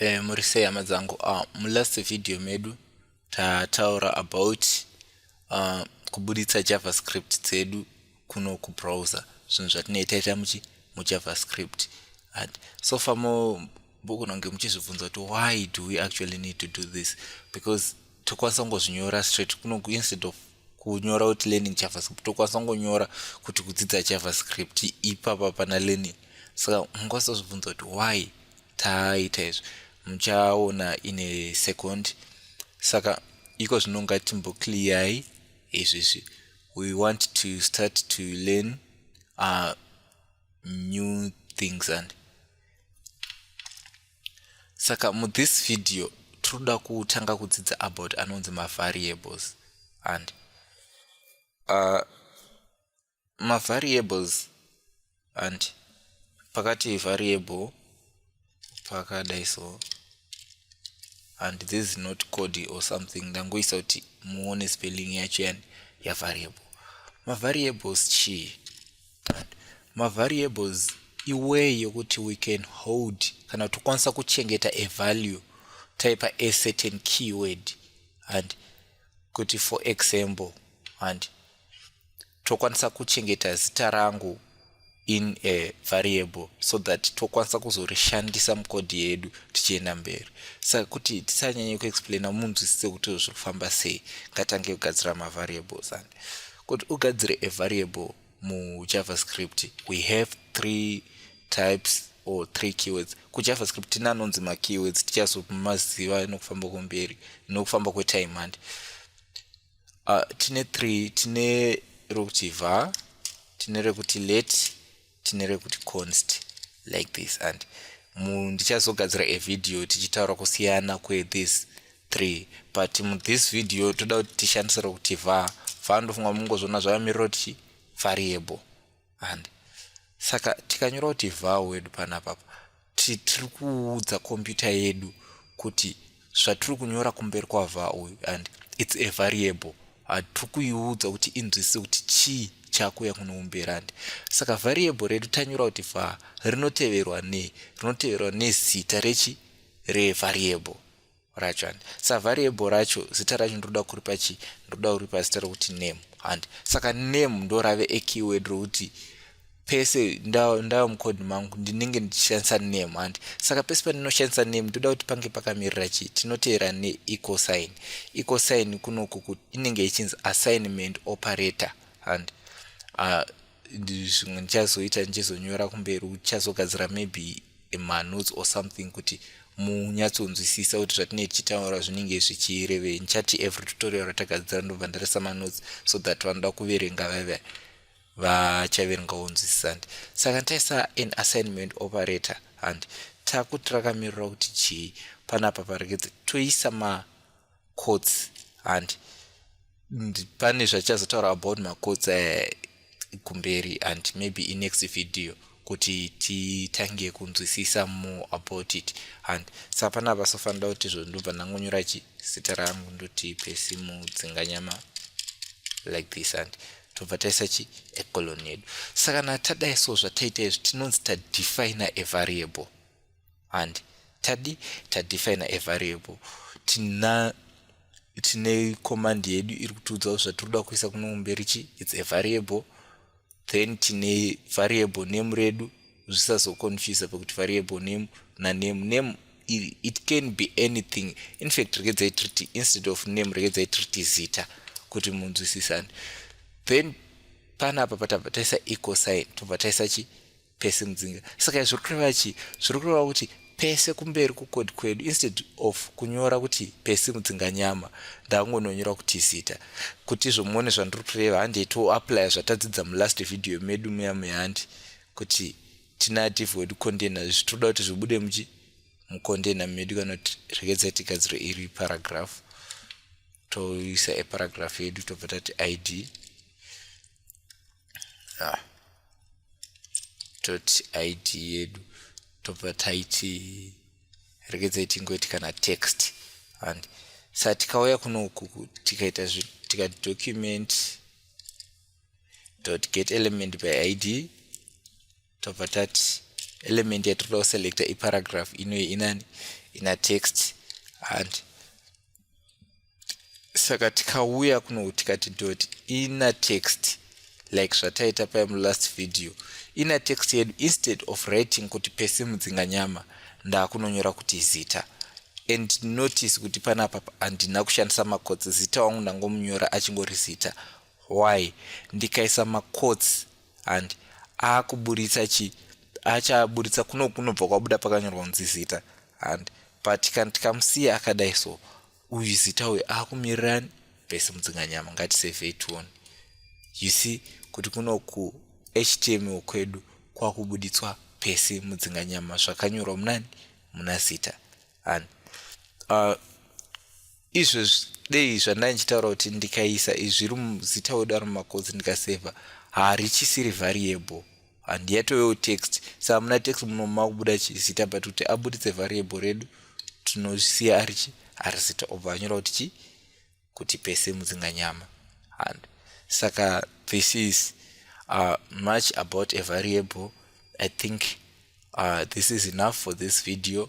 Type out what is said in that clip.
Eh, muri sei hama dzangu ah, mulast video medu tataura about ah, kubuditsa javascript dzedu kuno kubrowser zvinhu zvatinoita ita muchi mujavascript so far mo mbogona kunge muchizvibvunza kuti why do we actually need to do this because tokwanisa kungozvinyora straight kuno instead of kunyora kuti learning javascript tokwanisa kungonyora kuti kudzidza javascript ipapa pana learning saka mungwanisa kuzvibvunza kuti why taita izvi muchaona ine second saka iko zvino ngatimbokliyai izvizvi we want to start to learn uh, new things and saka muthis video tinoda kutanga kudzidza about anonzi mavariables and uh, mavariables and pakati variable pakadai so and this is not code or something ndangoisa kuti muone spelling yacho yani yavariable mavariables chii mavariables iway yokuti we can hold kana kuti tokwanisa kuchengeta a value taipa a certain keyword and kuti for example and tokwanisa kuchengeta zita rangu in a variable so that tokwanisa kuzorishandisa mukodhi yedu tichienda mberi saka kuti tisanyanye kuexplaina munzwisise kuti zviri kufamba sei ngatange kugadzira mavariables and kuti ugadzire a variable mujavascript we have three types or three keywords kujavascript tine anonzi makeywords tichazomaziva nokufamba kwemberi nokufamba kwetime handi uh, ah, tine three tine rokuti var tine rekuti let tine rekuti const like this and ndichazogadzira evideo tichitaura kusiyana kwethis 3 but mu this video toda kuti tishandise rokuti var var ndofunga mungozviona zvavamirira kuti chii variable and saka tikanyora kuti var wedu panapapa tiri kuudza kompyuta yedu kuti zvatiri kunyora kumberi kwavha uyu and its a variable hatiri kuiudza kuti inzwisise kuti chii chakuya kunoumbera and saka variable redu tanyora kuti var rinoteverwa nei rinoteverwa nezita rechi revariable racho handi sa variable racho zita racho ndinoda kuripa chii ndinoda kuripa zita rokuti name handi saka name ndorave ekeyword rokuti pese ndava mucode mangu ndinenge ndichishandisa name handi saka pese pandinoshandisa name ndoda kuti pange pakamirira chii tinoteera neequal sign equal sign kunoku inenge ichinzi assignment operator handi uh, zvimwe ndichazoita ndichizonyora kumberi uchazogadzira maybe manotes or something kuti munyatsonzwisisa kuti zvatinee tichitaura zvinenge zvichirevei ndichati every tutorial ratagadzira ndobva ndaresa manotes so that vanoda kuverenga vaive vachaverengawo nzwisisa handi saka taisa an assignment operator handi takuti rakamirira kuti chii panapa paregedze toisa ma courts and pane zvachazotaura about macourts eh, kumberi uh, and maybe in next video kuti titange kunzwisisa more about it and sa pana vasofanira kuti izvo ndobva ndangonyora chi zita rangu ndoti pesi mudzinganyama like this and tobva taisa chi ecolon yedu saka na tadai so zvataita izvi tinonzi tadefina a variable and tadi tadefina a variable tina tine command yedu iri kutiudzawo zvatinoda kuisa kuno kumberi chi its a variable then tine variable name redu zvisazoconfuse pekuti variable name naname name it can be anything infact rekedzai triti instead of name rekedzai triti zita kuti munzwisisane then panapa patabva taisa ecosign tobva taisa chi pese mudzinga saka zviri kureva chii zviri kureva kuti pese kumberi kukodi kwedu instead of kunyora kuti pese mudzinga nyama ndakungononyora kuti zita kuti izvo muone zvandiri kureva handi toaplya zvatadzidza mulast video medu muya muya handi kuti tina div wedu container izvi tinoda kuti zvibude muchi mucontainer medu kana kuti rekedza tigadziro iri paragraph toisa eparagraph yedu tobva tati id ah. toti id yedu tobva taiti regedzai tingoiti kana text and sa tikauya kuno uku tikaita tikati document dot get element by id tobva tati element yatinoda kuselecta iparagraph inoyi inani ina text and saka tikauya kuno tikati dot ina text like zvataita paye mulast video ina text yedu instead of writing kuti pese mudzinga nyama ndakunonyora kuti zita and notice kuti panapa handina kushandisa makotsi zita wangu ndangomunyora achingori zita why ndikaisa makotsi and akuburitsa chi achaburitsa kuno kunobva kwabuda pakanyorwa kunzi zita and but kan tikamusiya akadai so uyu zita uyu akumirirani vese mudzinganyama ngatisevhei tione you see kuti kuno ku html kwedu kwakubuditswa pese mudzinganyama zvakanyorwa munani muna zita and uh, izvezvi dei zvandai ndichitaura kuti ndikaisa izvi ri muzita wedu ari mumakodzi ndikasevha harichisiri variable handiyatovewo text sa hamuna text muno makubuda chizita but kuti abuditse variable redu tinosiya arichi ari zita obva anyora kuti chii kuti pese mudzinga nyama and saka this is uh, much about a variable i think uh, this is enough for this video